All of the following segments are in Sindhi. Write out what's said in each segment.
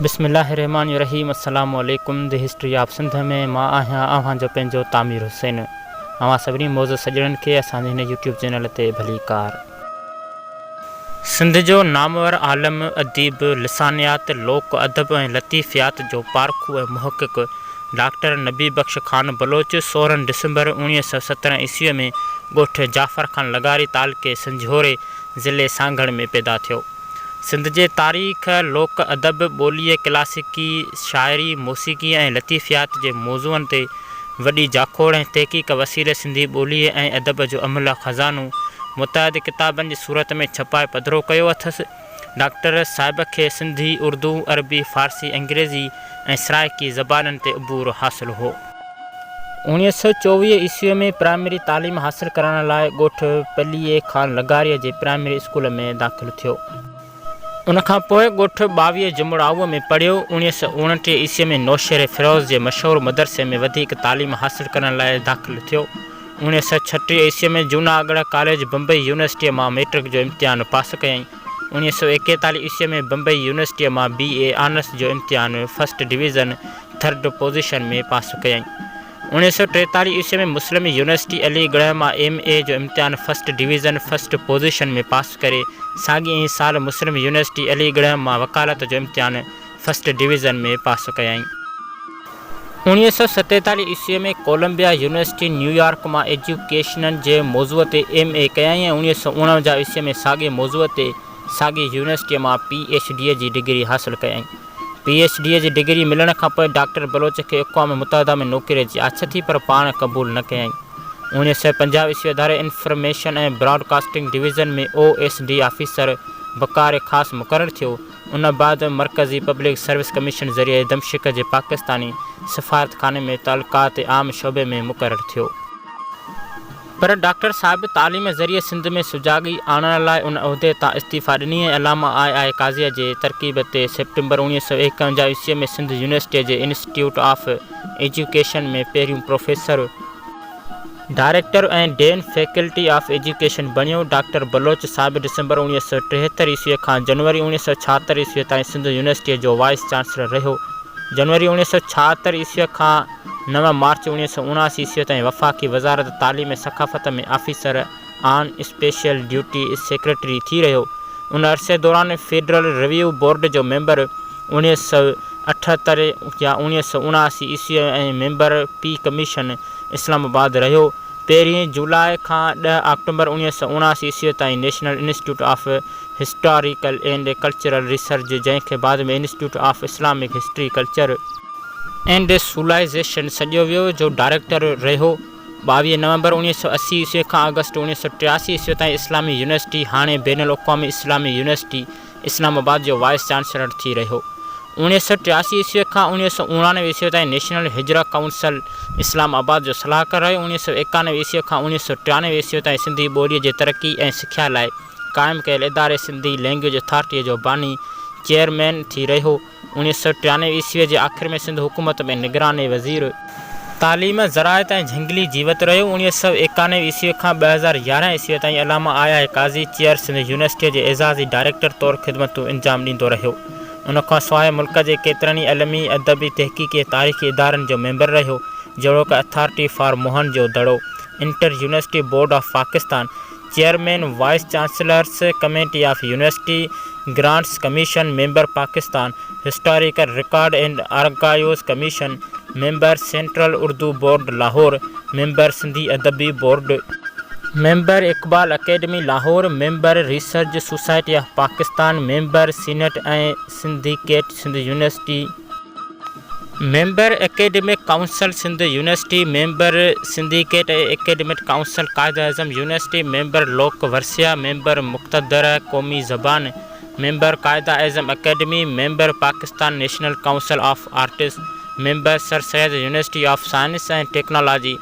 بسم الله الرحمان الرحيم السلام عليڪم دي هسٽري آف سنڌ ۾ مان آهيان اوهان جو پنهنجو تعمير حسين اوهان سڀني معزز سڄڻن کي اسان جي هن يوٽيوب چينل تي ڀليڪار. سنڌ جو نامور عالم، اديب، لسانيات، لوڪ ادب ۽ لطيفيات جو پارکو ۽ محقق ڊاڪٽر نبي بخش خان بلوچ سورهن ڊسمبر اوڻيهه سؤ سترهن عيسويء ۾ ڳوٺ جعفر خان لغاري تعلقي سنجهوري ضلعي سانگهڙ ۾ پيدا ٿيو. سنڌ جي تاريخ، لوڪ ادب، ٻوليء، ڪلاسيڪي شاعري، موسيقيء ۽ لطيفيات جي موضوعن تي وڏي جاکوڙ ۽ تحقيق وسيلي سنڌي ٻوليء ۽ ادب جو املهه خزانو متعدد ڪتابن جي صورت ۾ ڇپائي پڌرو ڪيو اٿس. ڊاڪٽر صاحب کي سنڌي، اردو، عربي، فارسي، انگريزي ۽ سرائيڪي زبانن تي عبور حاصل هو. اوڻيهه سؤ چوويهه عيسويء ۾ پرائمري تعليم حاصل ڪرڻ لاء ڳوٺ پليي خان لغاريء جي پرائمري اسڪول ۾ داخل ٿيو. ان کان پوء ڳوٺ ٻاويهه جمڙائوء ۾ پڙهيو. اوڻيهه سؤ اوڻٽيهه عيسويء ۾ نوشهري فيروز جي مشهور مدرسي ۾ وڌيڪ تعليم حاصل ڪرڻ لاء داخل ٿيو. اوڻيهه سؤ ڇٽيهه عيسويء ۾ جوناڳڙهه ڪاليج بمبئي يونيورسٽيء مان ميٽرڪ جو امتحان پاس ڪيائين. اوڻيهه سؤ ايڪيتاليهه عيسويء ۾ بمبئي يونيورسٽيء مان بي. اي آنرس جو امتحان ۾ first division, third position, ۾ pass ڪيائين. اوڻيهه سؤ ٽيتاليهه عيسويء ۾ مسلم يونيورسٽي علي ڳڙهه مان ايم. اي جو امتحان first division, first position, ۾ pass ڪري، ساڳئي ئي سال مسلم يونيورسٽي علي ڳڙهه مان وڪالت جو امتحان، فرسٽ ڊويزن ۾ پاس ڪيائين. اوڻيهه سؤ ستيتاليهه عيسويء ۾ ڪولمبيا يونيورسٽي نيويارڪ مان ايجوڪيشنن جي موضوع تي ايم اي ڪيائين ۽ اوڻيهه سؤ اڻونجاهه عيسويء ۾ ساڳئي موضوع تي ساڳئي يونيورسٽيء مان پي ايڇ ڊيء جي ڊگري حاصل ڪيائين. پي ايڇ ڊيء جي ڊگري ملڻ کان پوء ڊاڪٽر بلوچ کي اقوام متحده ۾ نوڪريء جي آڇ ٿي پر پاڻ قبول نه ڪيائين. اوڻيهه سؤ پنجاهه عيسوي اداري information ۽ broadcasting division ۾ O S D officer بڪاري خاص مقرر ٿيو. ان بعد مرڪزي پبلڪ سروس ڪميشن ذريعي دمشق جي پاڪستاني سفارتخاني ۾ تعلقات عام شعبي ۾ مقرر ٿيو. پر ڊاڪٽر صاحب تعليم ذريعي سنڌ ۾ سجاڳي آڻڻ لاء ان عهدي تان استعيفا ڏني ۽ علامه آء آء قاضيء جي ترڪيب تي سيپٽمبر اوڻيهه سؤ ايڪاونجاهه عيسويء ۾ سنڌ يونيورسٽيء جي انسٽيٽيوٽ آف ايجوڪيشن ۾ پهريون professor director ۽ dean faculty of education بڻيو. ڊاڪٽر بلوچ صاحب ڊسمبر اوڻيهه سؤ ٽيهتر عيسوي کان جنوري اوڻيهه سؤ ڇاهتر عيسوي تائين سنڌ يونيورسٽيء جو وائيس چانسلر رهيو. جنوري اوڻيهه سؤ ڇاهتر عيسوي کان نو مارچ اوڻيهه سؤ اڻاسي عيسوي تائين وفاقي وزارت تعليم ۽ ثقافت ۾ officer, on special duty secretary ٿي رهيو. ان عرصي دوران فيڊرل رويو بورڊ جو ميمبر، اوڻيهه سؤ اٺهتر يا اوڻيهه سؤ اڻاسي عيسوي ۽ member P commission Islamabad رهيو. پهرين جولاء کان ڏهه آڪٽومبر اوڻيهه سؤ اڻاسي عيسوي تائين national institute of historical and cultural research جنهن کي بعد ۾ institute of Islamic history, culture. And civilisation سڏيو ويو جو ڊائريڪٽر رهيو. ٻاويهه نومبر اوڻيهه سؤ اسي عيسوي کان آگسٽ اوڻيهه سؤ ٽياسي عيسوي تائين اسلامي يونيورسٽي، هاڻي بين الاقوامي اسلامي يونيورسٽي، اسلام آباد جو وائيس چانسلر ٿي رهيو. اوڻيهه سؤ ٽياسي عيسوي کان اوڻيهه سؤ اوڻانوي عيسوي تائين نيشنل هجره ڪائونسل اسلام آباد جو صلاحڪار رهيو. اوڻيهه سؤ ايڪانوي عيسوي کان اوڻيهه سؤ ٽيانوي عيسوي تائين سنڌي ٻوليء جي ترقي ۽ سکيا لاء قائم ڪيل اداري سنڌي لئنگويج اٿارٽيء جو باني، چيئرمين، ٿي رهيو. اڻيهه سؤ ٽيانوي عيسويء جي آخر ۾ سنڌ حڪومت ۾ نگران وزير، تعليم، زراعت ۽ جهنگلي جيوت رهيو اڻيهه سؤ ايڪانوي عيسويء کان ٻه هزار يارهن عيسويء تائين علامه آيا هي قاضي چيئر سنڌ يونيورسٽيء جي اعزازي ڊائريڪٽر طور خدمتون انجام ڏيندو رهيو ان کان سواء ملڪ جي ڪيترن ئي علمي، ادبي، تحقيقي ۽ تاريخي ادارن جو ميمبر رهيو جهڙوڪ authority for Mohenjodaro, inter university board of Pakistan, chairman vice chancellors committee of university grants commission member Pakistan historical record and archives commission member central Urdu board Lahore member Sindhi Adabi board member Iqbal academy Lahore member research society of Pakistan member senate ۽ syndicate Sindh university. Member academic council Sindh university member syndicate academic council Quaid e Azam university member Lok Virsa member Muqtadra قومي زبان member Quaid e Azam academy member Pakistan national council of arts member sir Syed university of science ۽ technology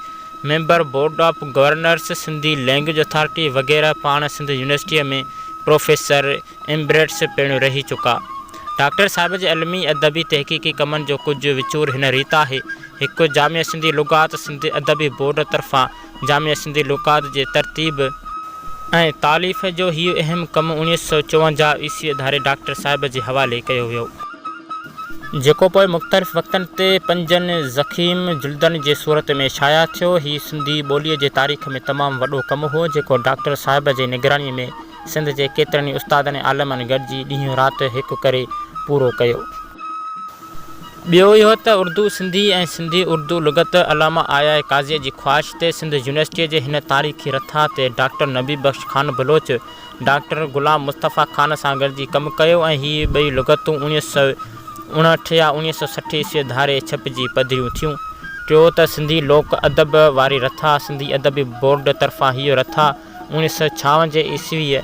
member board of governors Sindhi language authority وغيره پاڻ سنڌ يونيورسٽي ۾ پروفيسر ايمبريٽس پڻ رهي چڪا. ڊاڪٽر صاحب جي علمي، ادبي، تحقيقي ڪمن جو ڪجهه وچور هن ريت آهي، هڪ جامع سنڌي لغات سنڌ ادبي بورڊ طرفان جامع سنڌي لغات جي ترتيب، ۽ تاليف جو هيء اهم ڪم اڻيهه سؤ چوونجاهه عيسوي ڌاري ڊاڪٽر صاحب جي حوالي ڪيو ويو، جيڪو پوء مختلف وقتن تي پنجن ضخيم جلدن جي صورت ۾ شايع ٿيو، هي سنڌي ٻوليء جي تاريخ ۾ تمام وڏو ڪم هو، جيڪو ڊاڪٽر صاحب جي نگرانيء ۾ سنڌ جي ڪيترن ئي استادن ۽ عالمن گڏجي ڏينهن رات هڪ ڪري پورو ڪيو. ٻيو اهو ته اردو سنڌي ۽ سنڌي اردو لغت علامه آيا قاضيء جي خواهش تي سنڌ يونيورسٽيء جي هن تاريخي رٿا تي ڊاڪٽر نبي بخش خان بلوچ ڊاڪٽر غلام مصطفيٰ خان سان گڏجي ڪم ڪيو ۽ هي ٻئي لغتون اڻيهه سؤ اڻهٺ يا اڻيهه سؤ سٺ عيسويء ڌاري ڇپجي پڌريون ٿيون. ٽيون ته سنڌي لوڪ ادب واري رٿا سنڌي ادبي بورڊ طرفان هيء رٿا. اوڻيھ سؤ ڇاونجهه عيسويء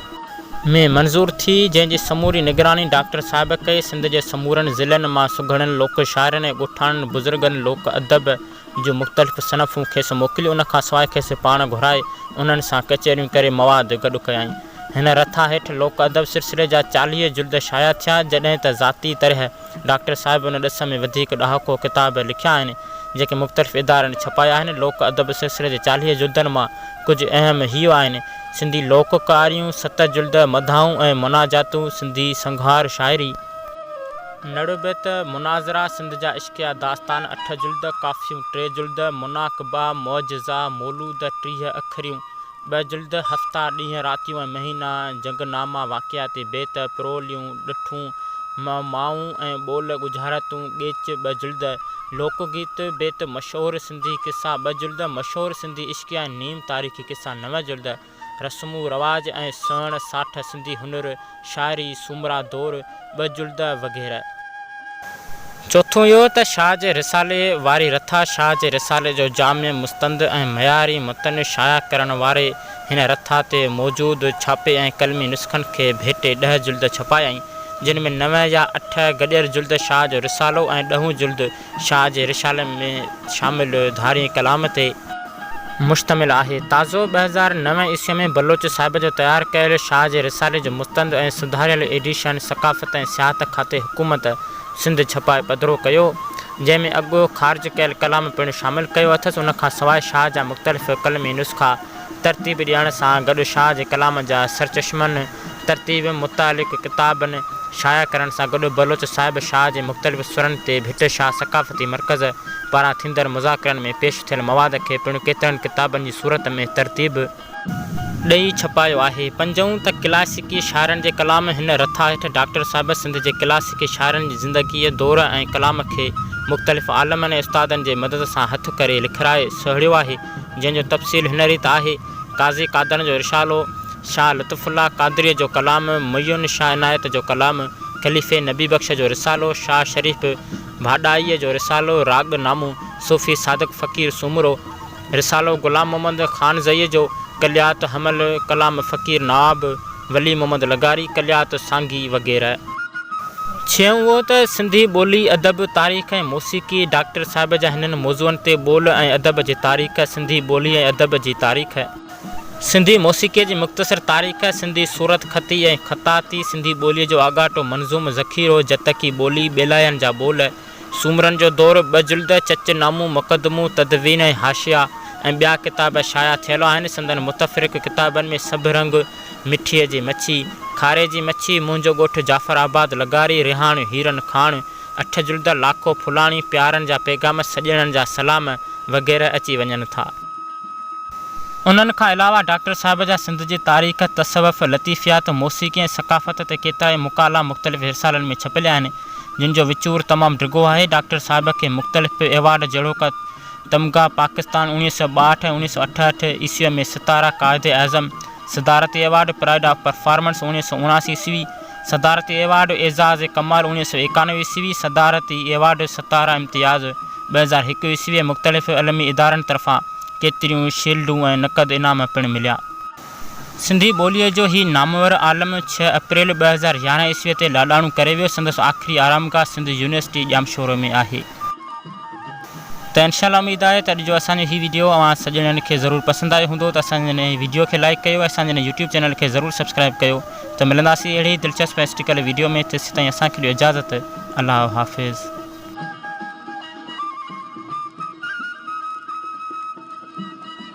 ۾ منظور ٿي، جنهن جي سموري نگراني ڊاڪٽر صاحب ڪئي. سنڌ جي سمورن ضلعن مان سگهڙن لوڪ شاعرن ۽ ڳوٺاڻن بزرگن لوڪ ادب جون مختلف صنفون کيس موڪليون. ان کان سواء کيس پاڻ گهرائي انهن سان ڪچهريون ڪري مواد گڏ ڪيائين. هن رٿا هيٺ لوڪ ادب سلسلي جا چاليهه جلد شايع ٿيا، جڏهن ته ذاتي طرح، ڊاڪٽر صاحب ان ڏس ۾ وڌيڪ ڏهاڪو ڪتاب لکيا آهن، جيڪي مختلف ادارن ڇپايا آهن. لوڪ ادب سلسلي جي چاليهه جلدن مان ڪجهه اهم هيء آهن، سنڌي لوڪ ڪهاڻيون، ست جلد، مداحون ۽ مناجاتون، سنڌي سنگهار شاعري، نڙ بيت، مناظرا، سنڌ جا عشقيه داستان، اٺ جلد، ڪافيون، ٽي جلد، مناقبا، معجزا، مولود، ٽيهه اکريون، ٻه جلد، هفتا، ڏينهن، راتيون ۽ مهينا، جنگ ناما، واقعاتي بيت، پروليون، ڏٺون، معمائون ۽ ٻول، ڳجهارتون، ڳيچ، ٻه جلد، لوڪ گيت، بيت، مشهور سنڌي قصا، ٻه جلد، مشهور سنڌي عشقيه ۽ نيم تاريخي قصا، نو جلد، رسمون رواج ۽ سهڻ ساٺ، سنڌي هنر، شاعري، سومرا دور، ٻه جلد وغيره. چوٿون اهو ته شاهه جي رسالي واري رٿا شاهه جي رسالي جو جامع، مستند ۽ معياري متن شايع ڪرڻ واري هن رٿا تي موجود ڇاپي ۽ قلمي نسخن کي ڀيٽي ڏهه جلد ڇپايائين، جن ۾ نوين يا اٺ گڏيل جلد شاهه جو رسالو ۽ ڏهون جلد شاهه جي رسالن ۾ شامل ڌارئين ڪلام تي مشتمل آهي. تازو ٻه هزار نو عيسوي ۾ بلوچ صاحب جو تيار ڪيل شاهه جي رسالي جو مستند ۽ سڌاريل ايڊيشن ثقافت ۽ سياحت کاتي حڪومت سنڌ ڇپائي پڌرو ڪيو جنهن ۾ اڳو خارج ڪيل ڪلام پڻ شامل ڪيو اٿس ان کان سواء شاهه جا مختلف قلمي نسخا ترتيب ڏيڻ سان گڏ شاهه جي ڪلام جا سرچشمن ترتيب متعلق ڪتابن شايع ڪرڻ سان گڏ بلوچ صاحب شاهه جي مختلف سرن تي ڀٽ شاهه ثقافتي مرڪز پاران ٿيندڙ مذاڪرن ۾ پيش ٿيل مواد کي پڻ ڪيترن ڪتابن جي صورت ۾ ترتيب ڏئي ڇپايو آهي. پنجون ته ڪلاسيڪي شاعرن جي ڪلام هن رٿا هيٺ ڊاڪٽر صاحب سنڌ جي ڪلاسيڪي شاعرن جي زندگيء، دور ۽ ڪلام کي مختلف عالمن ۽ استادن جي مدد سان هٿ ڪري لکرائي سهيڙيو آهي، جنهن جو تفصيل هن ريت آهي. قاضي قادڻ جو رشالو، شاهه لطف الله قادريء جو ڪلام، معين شاهه عنايت جو ڪلام، خليفي نبي بخش جو رسالو، شاهه شريف ڀاڏائيء جو رسالو، راڳ نامو، صوفي صادق فقير سومرو، رسالو غلام محمد خانزئيء جو، ڪليات حمل، ڪلام فقير نواب، ولي محمد لغاري، ڪليات سانگي وغيره. ڇهون اهو ته سنڌي ٻولي، ادب، تاريخ ۽ موسيقي، ڊاڪٽر صاحب جا هنن موضوعن تي ٻول ۽ ادب جي تاريخ، سنڌي ٻولي ۽ ادب جي تاريخ، سنڌي موسيقيء جي مختصر تاريخ، سنڌي صورت خطي ۽ خطاطي، سنڌي ٻوليء جو آڳاٽو منظوم ذخيرو، جتڪي ٻولي، ٻيلاين جا ٻول، سومرن جو دور، ٻه جلد، چچ نامون، مقدمون، تدوين ۽ حاشيا ۽ ٻيا ڪتاب شايع ٿيل آهن. سندن متفرق ڪتابن ۾ سڀ رنگ، مٺيء جي مڇي، کاري جي مڇي، منهنجو ڳوٺ جعفر آباد، لغاري، رهاڻ، هيرن کاڻ، اٺ جلد، لاکو ڦلاڻي، پيارن جا پيغام، سڄڻن جا سلام وغيره اچي وڃن ٿا. انهن کان علاوه ڊاڪٽر صاحب جا سنڌ جي تاريخ، تصوف، لطيفيات، موسيقي ۽ ثقافت تي ڪيترائي مقالا مختلف رسالن ۾ ڇپيل آهن. جن جو وچور تمام ڊگهو آهي. ڊاڪٽر صاحب کي مختلف ايوارڊ جهڙوڪ تمغه پاڪستان اوڻيهه سؤ ٻاهٺ ۽ اوڻيهه سؤ اٺهٺ عيسويء ۾ ستاره قائد اعظم صدارتي ايوارڊ، پرائيڊ آف پرفارمنس اوڻيهه سؤ اڻاسي عيسوي، صدارتي ايوارڊ اعزاز ڪمال اوڻيهه سؤ ايڪانوي عيسوي، صدارتي ايوارڊ ستاره امتياز ٻه هزار هڪ عيسوي ۽ مختلف علمي ادارن طرفان ڪيتريون ئي شيلڊون ۽ نقد انعام پڻ مليا. سنڌي ٻوليء جو هي نامور عالم ڇهه اپريل ٻه هزار يارهن عيسويء تي لاڏاڻو ڪري ويو. سندس آخري آرامگاهه سنڌ يونيورسٽي ڄامشورو ۾ آهي. ته انشاء الله اميد آهي ته اڄ جو اسان جو هي وڊيو اوهان سڄڻن کي ضرور پسند آيو هوندو ته اسان جي هن وڊيو کي لائيڪ ڪيو ۽ اسان جي هن يوٽيوب چينل کي ضرور سبسڪرائيب ڪيو ته ملنداسين اهڙي ئي دلچسپ ۽ سٽيڪل وڊيو ۾ تيسيتائين اسان کي ڏيو اجازت الله حافظ.